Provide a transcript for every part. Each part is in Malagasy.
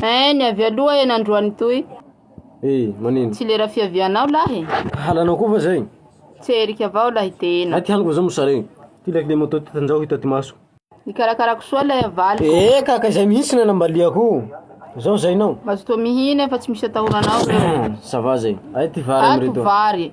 Eh, ny avy aloha e nandroany toy. Eh, manino? Tsy lera fiavianao lahy e. Halanao koa fa zay. Tsy erika avao lahy tena. Aty haniko zao mosare. Ty lahy le moto ty tanjao hita ty maso. Nikarakarako soa lay avaly. Eh, kaka izay mihitsy na nambaliako. Zao zainao. Mazotoa mihina fa tsy misy atahoranao. Ça va zay. Ay ty vary amreto. Ato vary.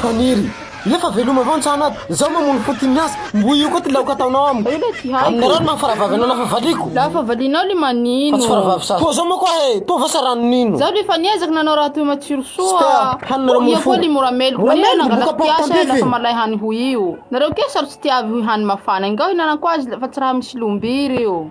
Paniry. Nefa veloma avao ny tsahana ato. Zao mamono fo ty miasa. Mbo io koa ty laoka ataonao amiko. Ela tsy haiko. Amin'ny rano maha faravavy anao lafa valiako. Lafa valianao le manino. Fa tsy faravavy sasy. Toa zao moa koa e. Toa va sa ranon'ino. Zaho lefa niezaka nanao raha toy matsiro soa. Ska hanina raha mofo. Ia koa li mora meloka. Mora meloka boka porte en pif e. Nangalako piasa lafa malay hany ho io. Nareo kay saro tsy tiavy ho hany mafana. Enga hohinanako azy fa tsy raha misy lombiry io.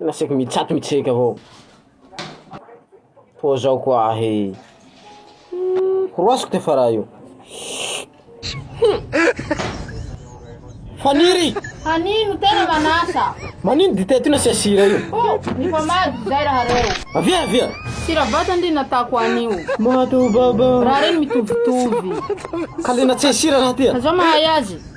Latsaka mitsatoka mitseiky avao, koa zao koa ahy koroasiko ty efa raha io Faniry! Hanino tena manasa. Manino dite ty nasia sira io? Oh, ny famady izay rahareo. Avia avia. Sira vata ndry natako anio. Mato baba. Raha reny mitovitovy. Kalina tsy sira raha ty. Azao mahay azy.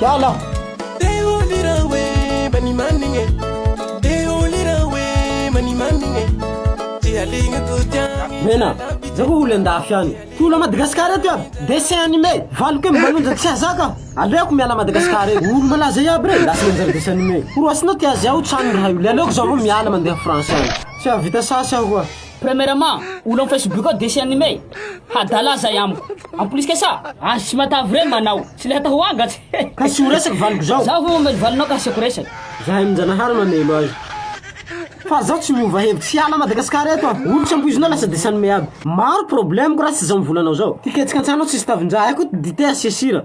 Hiala! Mena, zay koa olo andafy any. Ty olo a Madagascar eto iaby dessin animé, valo kely manonja tsy hazaka. Aleoko miala Madagascar eto. Olo malaza iaby rey lasa nanjary dessin animé. Horoasinao ty azy ao, tsy any raha io. Le aleoko zaho aloha miala mandeha France any. Tsy hahavita sasy aho koa. Premièrement, olo am Facebook ao dessin anime, hadala zay amiko. En plus que ça, azo tsy matavy reny manao, tsy le hatao angatsy. Ka tsy ho resaka valiko zao. Zaho vao mamely valinao ka asiako resaka. Zahay aminjanahary mamelo azy. Fa zaho tsy miova hevitra, tsy hiala Madagascar eto aho. Olo tsy ampoizinao lasa dessin anime aby. Maro problème ko raha tsy zao mivola anao zao. Ty ketrika an-tsano ao tsisy tavin-draha, hay koa dite asia sira.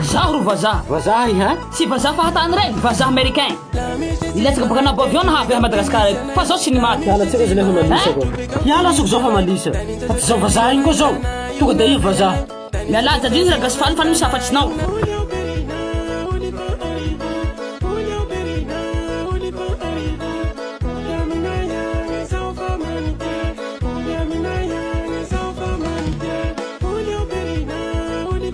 Izaho ro vazaha. Vazaha iha? Tsy vazaha fahatany ireny, vazaha Americain. Nilatsaka baka anabo avion naha avy ahy Madagascar eto. Fa zao tsy ny maty. Hiala tsika zalahy fa malisa ko. Hiala azoko zao fa malisa. Fa tsy zao vazaha iny koa zao. Tonga dia iha vazaha. Mialà jadriny Ragasy faly fa ny misy hafa tsy nao.